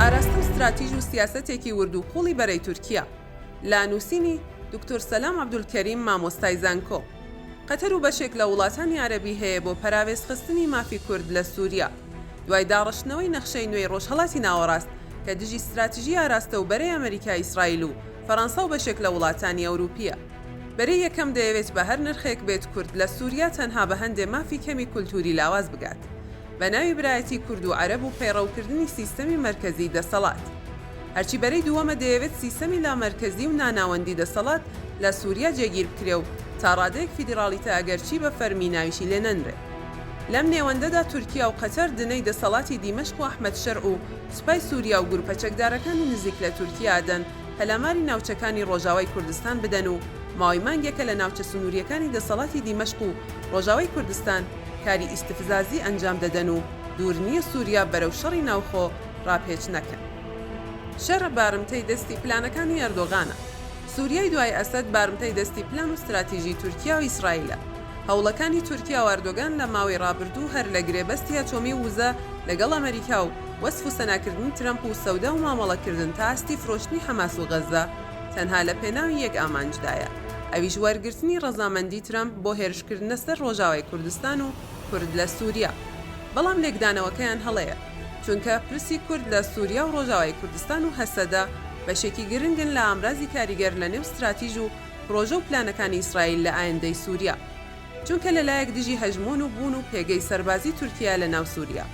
ئاراستە و ستراتیژ و سیاسەتێکی ورد و قوڵی بەرەی تورکیا لە نووسینی دکتۆر سەلام عبدولکەریم مامۆستای زانکۆ قەتەر و بەشێک لە وڵاتانی عەربی هەیە بۆ پەراوێزخستنی مافی کورد لە سووریا دوای داڕشتنەوەی نەخشەی نوێی ڕۆژهەڵاتی ناوەڕاست کە دژی ستراتیژی ئاراستە و بەرەی ئەمریکا ئیسرائیل و فەرەنسا و بەشێک لە وڵاتانی ئەوروپییە. بەرەی یەکەم دەیەوێت بە هەر نرخێک بێت کورد لە سوریا تەنها بە هەندێ مافی کەمی کولتووری لاواز بگات بە ناوی برایەتی کورد و عەرەب و پەیڕەو کردنی سیستەمی مەرکەزی دەسەڵات هەرچی بەرەی دووەمە دەیەوێت سیستەمی لامەرکەزی و ناناوەندی دەسەڵات لە سوریا جێگیر بکرێ و تا ڕادەیەک فیدیڕاڵیتە ئەگەرچی بە فەرمی ناویشی لێ نەنرێ. لەم نێوەندەدا تورکیا و قەتەر دنەی دەسەڵاتی دیمەشق و ئەحمەد شەرع و سوپای سوریا و گروپە چەکدارەکانی نزیک لە تورکیا ئەدەن، پەلاماری ناوچەکانی ڕۆژاوای کوردستان بدەن و ماوەی مانگێکە لە ناوچە سنوورییەکانی دەسەڵاتی دیمەشق و ڕۆژاوای کوردستان کاری ئیستفزازی ئەنجام دەدەن و دوور نییە سووریا بەرەو شەڕی ناوخۆ ڕاپێچ نەکەن. شەڕ بارمتەی دەستی پلانەکانی ئەردۆغانە. سووریای دوای ئەسەد بارمتەی دەستی پلان و ستراتیژی تورکیا و ئیسرائیلە. هەوڵەکانی تورکیا و ئەردۆگان لە ماوەی ڕابردوو هەر لە گرێبەستی ئەتۆمی و وزە لەگەڵ ئەمەریکا و وەسف و سەناکردنی ترەمپ و سەودا و مامەڵەکردن تا ئاستی فرۆشتنی حەماس و غەززە تەنها لە پێناوی یەک ئامانجدایە ئەویش وەرگرتنی ڕەزامەندی ترەمپ بۆ هێرشکردنە سەر ڕۆژاوای کوردستان و کورد لە سوریا بەڵام لێکدانەوەکەیان هەڵەیە چونکە پرسی کورد لە سوریا و ڕۆژاوای کوردستان و هەسەدە بەشێکی گرنگن لە ئامرازی کاریگەر لە نێو ستراتیژ و پرۆژە و پلانەکانی ئیسرائیل لە ئایندەی سوریا. چونکە لە لایەک دژی هەژموون و بوون و پێگەی سەربازی تورکیایە لە ناو سووریا،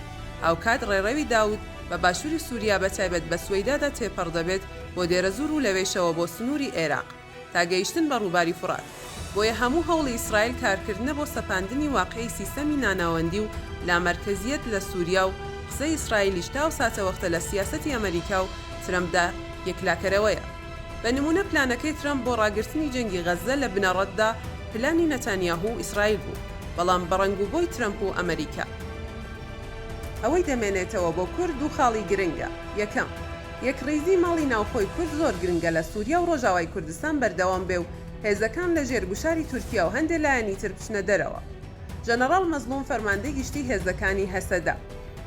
هاوکات ڕێڕەوی داوود بە باشووری سووریا بە تایبەت بە سوەیدادا تێپەڕ دەبێت بۆ دێرەزوور و لەوێشەوە بۆ سنووری ئێراق تا گەیشتن بە ڕووباری فورات. بۆیە هەموو هەوڵی ئیسرائیل کارکردنە بۆ سەپاندنی واقعی سیستەمی ناناوەندی و لامەرکەزییەت لە سووریا و قسەی ئیسرائیلیش تا ئەو ساتەوەختە لە سیاسەتی ئەمەریکا و ترەمپدا یەکلاکەرەوەیە. بە نموونە پلانەکەی ترەمپ بۆ ڕاگرتنی جەنگی غەززە لە بنەڕەتدا پلانی نەتانیاهو و ئیسرائیل بوو، بەڵام بەڕەنگوبۆی ترەمپ و ئەمەریکا. ئەوەی دەمێنێتەوە بۆ کورد دوو خاڵی گرنگە، یەکەم، یەکڕیزی ماڵی ناوخۆی کورد زۆر گرنگە لە سوریا و ڕۆژاوای کوردستان بەردەوام بێ و هێزەکان لە ژێر گوشاری تورکیا و هەندێ لایەنی تر بچنە دەرەوە. ژەنەڕاڵ مەزڵوم فەرماندەی گشتی هێزەکانی هەسەدە.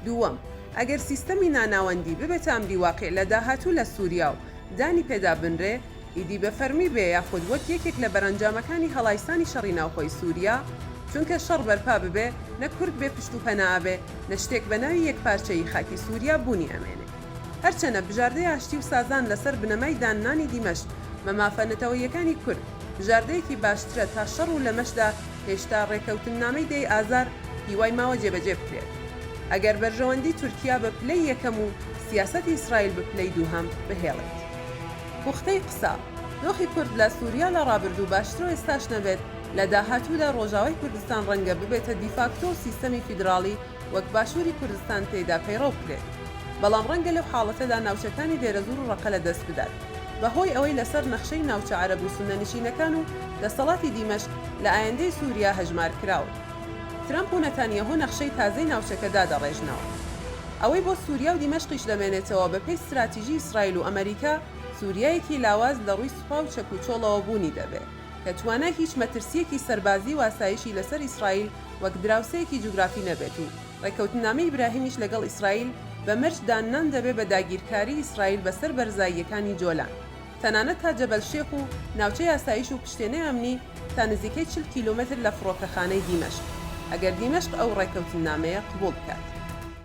دووەم، ئەگەر سیستەمی ناناوەندی ببێتە ئەمری واقیع لە داهاتوو لە سوریا و. دانی پێدا بنرێ، ئیدی بە فەرمی بێ یاخود وەک یەکێک لە بەرەنجامەکانی هەڵایسانی شەڕی ناوخۆی سوریا، چونکە شەڕ بەرپا ببێ نە کورد بێ پشت و پەنا ئەبێ نە شتێک بە ناوی یەکپارچەیی خاکی سوریا بوونی ئەمێنێ. هەرچەنە بژاردەی ئاشتی و سازان لە سەر بنەمای داننانی دیمەشق بە مافە نەتەوەییەکانی کورد بژاردەیەکی باشترە تا شەڕ و لەمەشدا هێشتا رێکەوتننامەی دەی ئازار هیوای ماوە جێبەجێ بکرێت ئەگەر بەرژەوەندی تورکیا بە پلەی یەکەم و سیاسەتی ئیسرائیل بە پلەی دووهەم بهێڵێت. پوختەی قسە، دۆخی کورد لە سوریا لە ڕابردوو باشترو ئێستاش نەبێت، لە داهاتوودا ڕۆژاوای کوردستان ڕەنگە ببێتە دیفاکتۆ و سیستەمی فیدراڵی وەک باشووری کوردستان تێیدا پەیڕەو بکرێت. بەڵام ڕەنگە لەو حاڵەتەدا ناوچەکانی دێرەزوور و ڕەقە لە دەست بدات بە هۆی ئەوەی لەسەر نەخشەی ناوچە عەرەب و سوننەنشینەکان و دەسەڵاتی دیمەشق لە ئایندەی سوریا هەژمار کراون. ترەمپ و نەتانیاهۆ نەخشەی تازەی ناوچەکە دادەڕێژنەوە. ئەوەی بۆ سووریا و دیمەشقیش دەمێنێتەوە، بەپێی ستراتیژی ئیسرائیل و ئەمەریکا، سووریایەکی لاواز لە ڕووی سوپا و چەکوچۆڵەوە بوونی دەبێ، کە توانای هیچ مەترسییەکی سەربازی و ئاسایشی لەسەر ئیسرائیل وەک دراوسێیەکی جوگرافی نەبێت و ڕێککەوتننامەی ئیبراهیمیش لەگەڵ ئیسرائیل بە مەرج داننان دەبێ بە داگیرکاریی ئیسرائیل بەسەر بەرزاییەکانی جۆلان. تەنانەت تا جەبەل شێخ و ناوچەی ئاسایش و پشتێنەی ئەمنی تا نزیکەی چل کیلۆمەتر لە فڕۆکەخانەی دیمەشق، ئەگەر دیمەشق ئەو ڕێککەوتننامەیە قبوڵ بکات.